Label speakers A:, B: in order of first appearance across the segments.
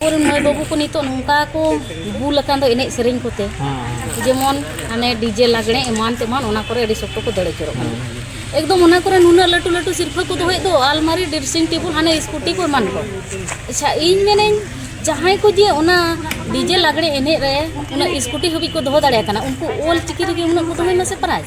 A: ᱟᱵᱚᱨᱮᱱ ᱢᱟᱹᱭ ᱵᱟᱹᱵᱩ ᱠᱚ ᱱᱤᱛᱚᱜ ᱱᱚᱝᱠᱟ ᱠᱚ ᱵᱩᱞ ᱟᱠᱟᱱ ᱫᱚ ᱮᱱᱮᱡ ᱥᱮᱨᱮᱧ ᱠᱚᱛᱮ ᱡᱮᱢᱚᱱ ᱦᱟᱱᱮ ᱰᱤᱡᱮ ᱞᱟᱜᱽᱬᱮ ᱮᱢᱟᱱ ᱛᱮᱢᱟᱱ ᱚᱱᱟ ᱠᱚᱨᱮ ᱟᱹᱰᱤ ᱥᱚᱠᱛᱚ ᱠᱚ ᱫᱟᱹᱲ ᱟᱹᱪᱩᱨᱚᱜ ᱠᱟᱱᱟ ᱮᱠᱫᱚᱢ ᱚᱱᱟ ᱠᱚᱨᱮ ᱱᱩᱱᱟᱹᱜ ᱞᱟᱹᱴᱩ ᱞᱟᱹᱴᱩ ᱥᱤᱨᱯᱷᱟᱹ ᱠᱚ ᱫᱚᱦᱚᱭᱮᱫ ᱫᱚ ᱟᱞᱢᱟᱨᱤ ᱰᱨᱮᱥᱤᱝ ᱴᱮᱵᱤᱞ ᱦᱟᱱᱮ ᱥᱠᱩᱴᱤ ᱠᱚ ᱮᱢᱟᱱ ᱠᱚ ᱟᱪᱪᱷᱟ ᱤᱧ ᱢᱮᱱᱟᱹᱧ ᱡᱟᱦᱟᱸᱭ ᱠᱚ ᱡᱮ ᱚᱱᱟ ᱰᱤᱡᱮ ᱞᱟᱜᱽᱬᱮ ᱮᱱᱮᱡ ᱨᱮ ᱚᱱᱟ ᱥᱠᱩᱴᱤ ᱦᱟᱹᱵᱤᱡ ᱠᱚ ᱫᱚᱦᱚ ᱫᱟᱲᱮᱭᱟᱜ ᱠᱟᱱᱟ ᱩᱱᱠᱩ ᱚᱞ ᱪᱤᱠᱤ ᱨᱮᱜᱮ ᱩᱱᱟᱹᱜ ᱠᱚ ᱫᱚᱦᱚᱭ ᱢᱟᱥᱮ ᱯᱨᱟᱭᱤᱡᱽ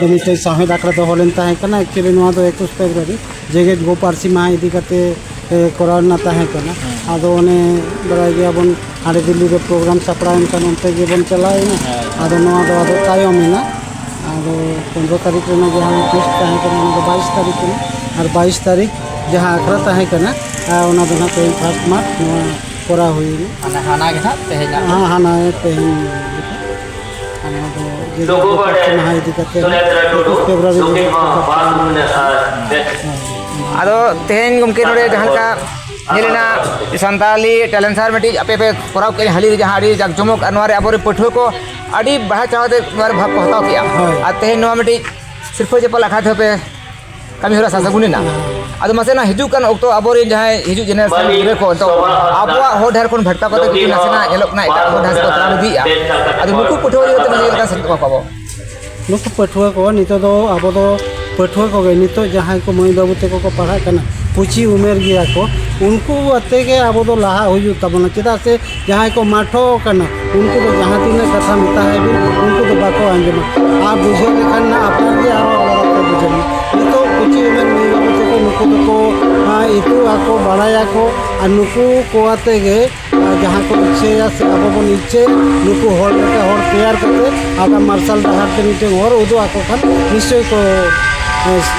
B: ᱫᱚ ᱢᱤᱫᱴᱮᱡ ᱥᱟᱶᱦᱮᱫ ᱟᱠᱷᱲᱟ ᱫᱚᱦᱚ ᱞᱮᱱ ᱛᱟᱦᱮᱸ ᱠᱟᱱᱟ ᱮᱠᱪᱩᱭᱮᱞᱤ ᱱᱚᱣᱟ ᱫᱚ ᱮᱠᱩᱥ ᱯᱷᱮᱵᱽᱨᱩᱣᱟᱨᱤ ᱡᱮᱜᱮᱛ ᱜᱳ ᱯᱟᱹᱨᱥᱤ ᱢᱟᱦᱟ ᱤᱫᱤ ᱠᱟᱛᱮ ᱠᱚᱨᱟᱣ ᱨᱮᱱᱟᱜ ᱛᱟᱦᱮᱸ ᱠᱟᱱᱟ ᱟᱫᱚ ᱚᱱᱮ ᱵᱟᱲᱟᱭ ᱜᱮᱭᱟᱵᱚᱱ ᱦᱟᱸᱰᱮ ᱫᱤᱞᱞᱤ ᱨᱮ ᱯᱨᱳᱜᱨᱟᱢ ᱥᱟᱯᱲᱟᱣ ᱮᱱᱠᱷᱟᱱ ᱚᱱᱛᱮ ᱜᱮᱵᱚᱱ ᱪᱟᱞᱟᱣᱮᱱᱟ ᱟᱫᱚ ᱱᱚᱣᱟ ᱫᱚ ᱟᱫᱚ ᱛᱟᱭᱚᱢ ᱮᱱᱟ ᱟᱫᱚ ᱯᱚᱱᱨᱚ ᱛᱟᱹᱨᱤᱠᱷ ᱨᱮᱱᱟᱜ ᱡᱟᱦᱟᱸ ᱯᱳᱥᱴ ᱛᱟᱦᱮᱸ ᱠᱟᱱᱟ ᱚᱱᱟ ᱫᱚ ᱵᱟᱭᱤᱥ ᱛᱟᱹᱨᱤᱠᱷ ᱠᱟᱱᱟ ᱟᱨ ᱵᱟᱭᱤᱥ ᱛᱟᱹᱨᱤᱠᱷ ᱡᱟᱦᱟᱸ ᱟᱠᱷᱲᱟ ᱛᱟᱦᱮᱸ ᱠᱟᱱᱟ ᱚᱱᱟ ᱫᱚ ᱱᱟᱦᱟᱜ ᱛᱮᱦᱮᱧ ᱯᱷᱟᱥᱴ ᱢᱟᱨᱪ ᱱᱚᱣᱟ ᱠᱚᱨᱟᱣ ᱦᱩᱭᱮᱱᱟ
C: ᱦᱟᱱᱟ ᱜᱮ ᱱᱟᱦᱟᱜ
B: ᱛᱮᱦᱮᱧ ᱦᱟᱱᱟ ᱛᱮᱦᱮᱧ ᱞᱩᱜᱩ ᱵᱟᱲᱮ
C: ᱥᱩᱱᱮᱛᱨᱟ ᱴᱩᱰᱩ ᱱᱩᱠᱤᱱ ᱦᱚᱸ ᱵᱟᱨ ᱢᱟᱹᱦᱱᱟᱹ ᱟᱨ ᱟᱫᱚ ᱛᱮᱦᱮᱧ ᱜᱚᱢᱠᱮ ᱱᱚᱰᱮ ᱡᱟᱦᱟᱸ ᱞᱮᱠᱟ ᱧᱮᱞᱮᱱᱟ ᱥᱟᱱᱛᱟᱞᱤ ᱴᱮᱞᱮᱱᱴ ᱥᱟᱨ ᱢᱤᱫᱴᱤᱡ ᱟᱯᱮ ᱯᱮ ᱠᱚᱨᱟᱣ ᱠᱮᱫ ᱦᱟᱹᱞᱤ ᱡᱟᱦᱟᱸ ᱟᱹᱰᱤ ᱡᱟᱠ ᱡᱚᱢᱚᱠ ᱟᱨ ᱱᱚᱣᱟᱨᱮ ᱟᱵᱚᱨᱮᱱ ᱯᱟᱹᱴᱷᱩᱣᱟᱹ ᱠᱚ ᱟᱹᱰᱤ ᱵᱟᱲᱟᱭ ᱪᱟᱲ ᱠᱟᱛᱮ ᱱᱚᱣᱟᱨᱮ ᱵᱷᱟᱜᱽ ᱠᱚ ᱦᱟᱛᱟᱣ ᱠᱮᱫᱼᱟ ᱟᱨ ᱛᱮᱦᱮᱧ ᱱᱚᱣᱟ ᱢᱤᱫᱴᱤᱡ ᱥᱤᱨᱯᱟᱹ ᱪᱟᱯᱟᱞ ᱟᱠᱷᱲᱟ ᱛᱮᱦᱚᱸ ᱯᱮ ᱠᱟᱹᱢᱤ ᱦᱚᱨᱟ ᱥᱟᱥᱟᱜᱩᱱ ᱮᱱᱟ ᱟᱫᱚ ᱢᱟᱥᱮ ᱱᱟ ᱦᱤᱡᱩᱜ ᱠᱟᱱ ᱚᱠᱛᱚ ᱟᱵᱚᱨᱮᱱ ᱡᱟᱦᱟᱸᱭ ᱦᱤᱡᱩᱜ ᱡᱮᱱᱮᱨᱮᱥᱚᱱ ᱜᱤᱫᱽᱨᱟᱹ ᱠᱚ ᱱᱤᱛᱚᱜ ᱟᱵᱚᱣᱟᱜ ᱦᱚᱨ ᱰᱟᱦᱟᱨ ᱠᱷᱚᱱ ᱵᱷᱟᱴᱠᱟᱣ ᱠᱟᱛᱮ ᱠᱤᱪᱷᱩ ᱱᱟᱥᱮᱱᱟᱜ ᱧᱮᱞᱚᱜ ᱠᱟᱱᱟ ᱮᱴᱟᱜ ᱦᱚᱨ ᱰᱟᱦᱟᱨ ᱠᱚ ᱛᱟᱲᱟᱢ ᱤᱫᱤᱭᱮᱜᱼᱟ ᱟᱫᱚ ᱱᱩᱠᱩ ᱯᱟᱹᱴᱷᱩᱣᱟᱹ ᱤᱫᱤ ᱠᱟᱛᱮ ᱢᱟᱥᱮ ᱪᱮᱫ ᱞᱮᱠᱟ ᱥᱮᱪᱮᱫ ᱠᱚᱣᱟ ᱵᱚ ᱱᱩᱠᱩ
B: ᱯᱟᱹᱴᱷᱩᱣᱟᱹ ᱠᱚ ᱱᱤᱛᱚᱜ ᱫᱚ ᱟᱵᱚ ᱫᱚ ᱯᱟᱹᱴᱷᱩᱣᱟᱹ ᱠᱚᱜᱮ ᱱᱤᱛᱚᱜ ᱡᱟᱦᱟᱸᱭ ᱠᱚ ᱢᱟᱹᱭ ᱵᱟᱹᱵᱩ ᱛᱮᱠᱚ ᱠᱚ ᱯᱟᱲᱦᱟᱜ ᱠᱟᱱᱟ ᱠᱩᱪᱤ ᱩᱢᱮᱨ ᱜᱮᱭᱟ ᱠᱚ ᱩᱱᱠᱩ ᱟᱛᱮ ᱜᱮ ᱟᱵᱚ ᱫᱚ ᱞᱟᱦᱟᱜ ᱦᱩᱭᱩᱜ ᱛᱟᱵᱚᱱᱟ ᱪᱮᱫᱟᱜ ᱥᱮ ᱡᱟᱦᱟᱸᱭ ᱠᱚ ᱢᱟᱴᱷᱚ ᱟᱠᱟᱱᱟ ᱩᱱᱠᱩ ᱫᱚ ᱡᱟᱦᱟᱸ ᱛᱤᱱᱟᱹᱜ ᱠᱟᱛᱷᱟ ᱢᱮᱛᱟ ᱦᱟᱭ ᱵᱤᱱ ᱩᱱᱠᱩ ᱫᱚ ᱵᱟᱠᱚ ᱟᱸᱡᱚᱢᱟ ᱟᱨ ᱵᱩᱡᱷᱟᱹᱣ ᱞᱮᱠᱷᱟᱱ ᱱᱟᱜ ᱟᱯᱱᱟᱨ ᱜᱮ ᱟᱨᱚ ᱟᱞᱟᱫᱟ ᱛᱮ ᱵᱩᱡᱷᱟᱹᱣ ᱢᱮ ᱱᱤᱛᱚᱜ ᱠᱩᱪᱤ ᱩᱢᱮᱨ ᱢᱟᱹᱭ ᱵᱟᱹᱵᱩ ᱛᱟᱠᱚ ᱱᱩᱠᱩ ᱫᱚᱠᱚ ᱤᱛᱩᱜ ᱟᱠᱚ ᱵᱟᱲᱟᱭᱟᱠᱚ ᱟᱨ ᱱᱩᱠᱩ ᱠᱚ ᱟᱛᱮ ᱜᱮ ᱡᱟᱦᱟᱸ ᱠᱚ ᱤᱪᱪᱷᱟᱹᱭᱟ ᱥᱮ ᱟᱵᱚ ᱵᱚᱱ ᱤᱪᱪᱷᱟᱹᱭᱟ ᱱᱩᱠᱩ ᱦᱚᱲ ᱞᱮᱠᱟ ᱦᱚᱲ ᱛᱮᱭᱟᱨ ᱠᱟᱛᱮᱫ ᱟᱜᱟᱢ ᱢᱟᱨᱥᱟᱞ ᱰᱟᱦᱟᱨ ᱛᱮ ᱢᱤᱫᱴᱮᱱ ᱦᱚᱨ ᱩᱫᱩᱜ ᱟᱠᱚ ᱠᱷᱟᱱ ᱱᱤᱥᱪᱳᱭ ᱠᱚ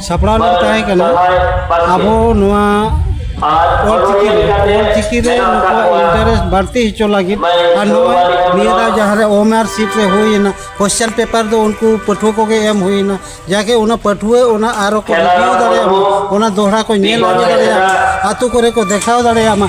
B: ᱥᱟᱯᱲᱟᱣ ᱞᱮᱱ ᱛᱟᱦᱮᱸ ᱠᱟᱱᱟ ᱟᱵᱚ ᱱᱚᱣᱟ ᱚᱞᱪᱤᱠᱤ ᱨᱮ ᱚᱞᱪᱤᱠᱤ ᱨᱮ ᱱᱩᱠᱩᱣᱟᱜ ᱤᱱᱴᱟᱨᱮᱥᱴ ᱵᱟᱹᱲᱛᱤ ᱦᱚᱪᱚ ᱞᱟᱹᱜᱤᱫ ᱟᱨ ᱱᱚᱣᱟ ᱱᱤᱭᱟᱹ ᱫᱷᱟᱣ ᱡᱟᱦᱟᱸ ᱨᱮ ᱳᱢ ᱟᱨ ᱥᱤᱴ ᱨᱮ ᱦᱩᱭᱮᱱᱟ ᱠᱚᱥᱪᱟᱱ ᱯᱮᱯᱟᱨ ᱫᱚ ᱩᱱᱠᱩ ᱯᱟᱹᱴᱷᱩᱣᱟᱹ ᱠᱚᱜᱮ ᱮᱢ ᱦᱩᱭᱮᱱᱟ ᱡᱟᱜᱮ ᱚᱱᱟ ᱯᱟᱹᱴᱷᱩᱣᱟᱹ ᱚᱱᱟ ᱟᱨᱚ ᱠᱚ ᱨᱤᱵᱷᱤᱭᱩ ᱫᱟᱲᱮᱭᱟᱜ ᱢᱟ ᱚᱱᱟ ᱫᱚᱦᱲᱟ ᱠᱚ ᱧᱮᱞ ᱟᱹᱜᱩ ᱫᱟᱲᱮᱭᱟᱜ ᱢᱟ ᱟᱛᱳ ᱠᱚᱨᱮ ᱠᱚ ᱫᱮᱠᱷᱟᱣ ᱫᱟᱲᱮᱭᱟᱜ ᱢᱟ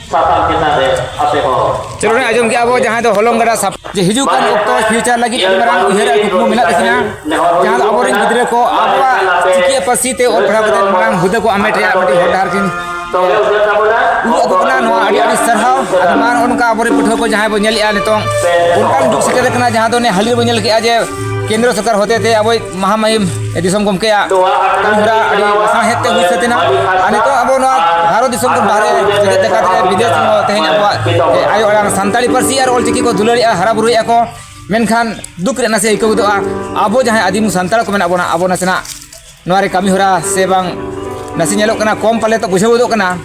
C: ᱥᱟᱛᱟᱢ ᱪᱮᱛᱟᱱ ᱨᱮ ᱟᱯᱮ ᱦᱚᱸ ᱪᱚᱞᱚ ᱨᱮ ᱟᱸᱡᱚᱢ ᱠᱮᱜᱼᱟ ᱵᱚ ᱡᱟᱦᱟᱸ ᱫᱚ ᱦᱚᱞᱚᱝ ᱜᱟᱰᱟ ᱥᱟᱯ ᱡᱮ ᱦᱤᱡᱩᱜ ᱠᱟᱱ ᱚᱠᱛᱚ ᱯᱷᱤᱭᱩᱪᱟᱨ ᱞᱟᱹᱜᱤᱫ ᱟᱹᱰᱤ ᱢᱟᱨᱟᱝ ᱩᱭᱦᱟᱹᱨ ᱟᱨ ᱠᱩᱠᱢᱩ ᱢᱮᱱᱟᱜ ᱛᱟᱹᱠᱤᱱᱟ ᱡᱟᱦᱟᱸ ᱫᱚ ᱟᱵᱚᱨᱮᱱ ᱜᱤᱫᱽᱨᱟᱹ ᱠᱚ ᱟᱵᱚᱣᱟᱜ ᱪᱤᱠᱤ ᱯᱟᱹᱨᱥᱤ ᱛᱮ ᱚᱞ ᱯᱟᱲᱦᱟᱣ ᱠᱟᱛᱮ ᱢᱟᱨᱟᱝ ᱦᱩᱫᱟᱹ ᱠᱚ ᱟᱢᱮᱴ ᱨᱮᱭᱟᱜ ᱢᱤᱫᱴᱤᱡ ᱦᱚᱨ ᱰᱟᱦᱟᱨ ᱠᱤᱱ ᱩᱫᱩᱜ ᱟᱠᱚ ᱠᱟᱱᱟ ᱱᱚᱣᱟ ᱟᱹᱰᱤ ᱟᱹᱰᱤ ᱥᱟᱨᱦᱟᱣ ᱟᱫᱚ ᱢᱟ ᱱᱚᱜᱼᱚ ᱱᱚᱝᱠᱟ ᱟᱵᱚᱨᱮᱱ ᱯᱟᱹᱴᱷᱩᱣᱟᱹ ᱠᱚ ᱡᱟᱦᱟᱸᱭ ᱵᱚ ᱧᱮᱞᱮᱜᱼᱟ ᱱᱤᱛᱚᱝ ᱚᱱᱠᱟᱱ ᱡᱩᱜᱽ ᱥᱮᱴᱮᱨ ᱟᱠᱟᱱᱟ ᱡᱟᱦᱟᱸ ᱫᱚ ᱦᱟᱹᱞᱤ ᱵᱚ ᱧᱮᱞ ᱠᱮᱜᱼᱟ ᱡᱮ ᱠᱮᱱᱫᱨᱚ ᱥᱚᱨᱠᱟᱨ ᱦᱚᱛᱮᱛᱮ ᱟᱵᱚᱭ ᱢᱟᱦᱟᱢᱟᱭᱤᱢ ᱫᱤᱥᱚᱢ ᱜᱚᱢᱠᱮᱭᱟᱜ ᱢᱚᱦᱨᱟ ᱟᱹᱰᱤ ᱥᱟᱶᱦᱮᱫ ᱛᱮ ᱦᱩᱭ ᱥᱟᱹᱛ ᱮᱱᱟ ᱟᱨ ᱱᱤᱛᱚᱜ ᱟᱵᱚ ᱱᱚᱣᱟ ᱵᱷᱟᱨᱚᱛ ᱫᱤᱥᱚᱢ ᱠᱷᱚᱱ ᱵᱟᱦᱨᱮ ᱡᱮᱜᱮᱛ ᱡᱟᱠᱟᱛ ᱨᱮ ᱵᱤᱫᱮᱥ ᱦᱚᱸ ᱛᱮᱦᱮᱧ ᱟᱵᱚᱣᱟᱜ ᱟᱭᱳ ᱟᱲᱟᱝ ᱥᱟᱱᱛᱟᱲᱤ ᱯᱟᱹᱨᱥᱤ ᱟᱨ ᱚᱞᱪᱤᱠᱤ ᱠᱚ ᱫᱩᱞᱟᱹᱲᱮᱜᱼᱟ ᱦᱟᱨᱟ ᱵᱩᱨᱩᱭᱮᱜᱼᱟ ᱠᱚ ᱢᱮᱱᱠᱷᱟᱱ ᱫᱩᱠ ᱨᱮ ᱱᱟᱥᱮ ᱟᱹᱭᱠᱟᱹᱣ ᱜᱚᱫᱚᱜᱼᱟ ᱟᱵᱚ ᱡᱟᱦᱟᱸᱭ ᱟᱹᱫᱤᱢ ᱥᱟᱱᱛᱟᱲ ᱠᱚ ᱢᱮᱱᱟᱜ ᱵᱚᱱᱟ ᱟᱵᱚ ᱱᱟᱥᱮᱱᱟᱜ ᱱᱚᱣᱟ ᱨᱮ ᱠᱟᱹᱢᱤ ᱦᱚᱨᱟ ᱥᱮ ᱵᱟᱝ ᱱᱟᱥᱮ ᱧᱮᱞᱚᱜ ᱠᱟᱱᱟ ᱠᱚᱢ ᱯᱟᱞᱮ ᱛᱚ ᱵᱩᱡᱷᱟᱹᱣ ᱜᱚᱫᱚᱜ ᱠᱟᱱᱟ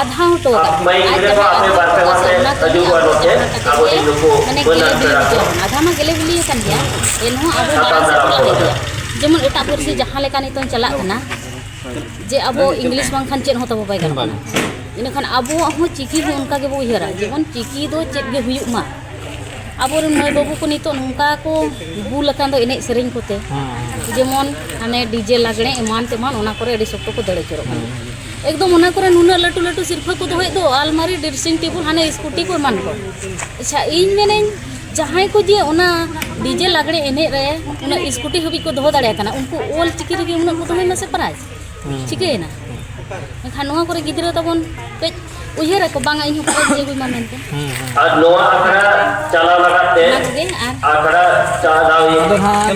A: ᱟᱫᱷᱟᱣ ᱦᱚᱴᱚ ᱟᱠᱟᱫ ᱟᱡ ᱡᱟᱦᱟᱸ ᱟᱫᱷᱟᱣ ᱦᱚᱴᱚ ᱠᱟᱜ ᱥᱮ ᱚᱱᱟ ᱠᱟᱹᱢᱤ ᱟᱵᱚ ᱡᱟᱦᱟᱸ ᱠᱟᱛᱮ ᱜᱮ ᱢᱟᱱᱮ ᱜᱮᱞᱮ ᱵᱤᱞᱤ ᱦᱚᱪᱚ ᱟᱫᱷᱟ ᱢᱟ ᱜᱮᱞᱮ ᱵᱤᱞᱤ ᱟᱠᱟᱱ ᱜᱮᱭᱟ ᱮᱱᱦᱚᱸ ᱟᱵᱚ ᱢᱟᱲᱟᱝ ᱥᱮᱫ ᱵᱚᱱ ᱤᱫᱤᱭᱟ ᱡᱮᱢᱚᱱ ᱮᱴᱟᱜ ᱯᱟᱹᱨᱥᱤ ᱡᱟᱦᱟᱸ ᱞᱮᱠᱟ ᱱᱤᱛᱚᱝ ᱪᱟᱞᱟᱜ ᱠᱟᱱᱟ ᱡᱮ ᱟᱵᱚ ᱤᱝᱞᱤᱥ ᱵᱟᱝᱠᱷᱟᱱ ᱪᱮᱫ ᱦᱚᱸ ᱛᱟᱵᱚ ᱵᱟᱭ ᱜᱟᱱᱚᱜ ᱠᱟᱱᱟ ᱤᱱᱟᱹᱠᱷᱟᱱ ᱟᱵᱚᱣᱟᱜ ᱦᱚᱸ ᱪᱤᱠᱤ ᱦᱚᱸ ᱚᱱᱠᱟ ᱜᱮᱵᱚ ᱩᱭᱦᱟᱹᱨᱟ ᱡᱮᱢᱚᱱ ᱪᱤᱠᱤ ᱫᱚ ᱪᱮᱫ ᱜᱮ ᱦᱩᱭᱩᱜ ᱢᱟ ᱟᱵᱚᱨᱮᱱ ᱢᱟᱹᱭ ᱵᱟᱹᱵᱩ ᱠᱚ ᱱᱤᱛᱚᱜ ᱱᱚᱝᱠᱟ ᱠᱚ ᱵᱩᱞ ᱟᱠᱟᱱ ᱫᱚ ᱮᱱᱮᱡ ᱥᱮᱨᱮᱧ ᱠᱚᱛᱮ ᱡᱮᱢᱚᱱ ᱦᱟᱱᱮ ᱰᱤᱡᱮ ᱞᱟᱜᱽᱬᱮ ᱮᱢᱟᱱ ᱛᱮᱢᱟᱱ ᱚᱱᱟ ᱠᱚᱨᱮ ᱟᱹᱰᱤ ᱥᱚᱠᱛᱚ ᱠᱚ ᱫᱟᱹᱲ ᱩᱛᱟᱹᱨᱚᱜ ᱠᱟᱱᱟ ᱮᱠᱫᱚᱢ ᱚᱱᱟ ᱠᱚᱨᱮ ᱱᱩᱱᱟᱹᱜ ᱞᱟᱹᱴᱩ ᱞᱟᱹᱴᱩ ᱥᱤᱨᱯᱷᱟᱹ ᱠᱚ ᱫᱚᱦᱚᱭᱮᱫ ᱫᱚ ᱟᱞᱢᱟᱨᱤ ᱰᱨᱮᱥᱤᱝ ᱴᱮᱵᱤᱞ ᱦᱟᱱᱮ ᱥᱠᱩᱴᱤ ᱠᱚ ᱮᱢᱟᱱ ᱠᱚ ᱟᱪᱪᱷᱟ ᱤᱧ ᱢᱮᱱᱟᱹᱧ ᱡᱟᱦᱟᱸᱭ ᱠᱚ ᱡᱮ ᱚᱱᱟ ᱰᱤᱡᱮ ᱞᱟᱜᱽᱬᱮ ᱮᱱᱮᱡ ᱨᱮ ᱩᱱᱟᱹᱜ ᱥᱠᱩᱴᱤ ᱦᱟᱹᱵᱤᱡ ᱠᱚ ᱫᱚᱦᱚ ᱫᱟᱲᱮᱭᱟᱜ ᱠᱟᱱᱟ ᱩᱱᱠᱩ ᱚᱞ ᱪᱤᱠᱤ ᱨᱮᱜᱮ ᱩᱱᱟᱹᱜ ᱠᱚ ᱫᱚᱦᱚᱭ ᱢᱟᱥᱮ ᱯᱨᱟᱭᱤᱡᱽ ᱪᱤᱠᱟᱹᱭᱮᱱᱟ ᱮᱱᱠᱷᱟᱱ ᱱᱚᱣᱟ ᱠᱚᱨᱮ ᱜᱤᱫᱽᱨᱟᱹ ᱛᱟᱵᱚᱱ ᱠᱟᱹᱡ ᱩᱭᱦᱟᱹᱨ ᱟᱠᱚ ᱵᱟᱝᱟ ᱤᱧ ᱦᱚᱸ ᱠᱚ ᱤᱫᱤ ᱟᱹᱜᱩᱭ ᱢᱟ ᱢᱮᱱᱛᱮ ᱟᱨ ᱱᱚᱣᱟ
D: ᱟᱠᱷᱲᱟ
C: ᱪᱟᱞᱟᱣ
D: ᱞᱟᱜᱟᱫ ᱛᱮ ᱟᱠᱷᱲᱟ ᱪᱟᱞᱟᱣ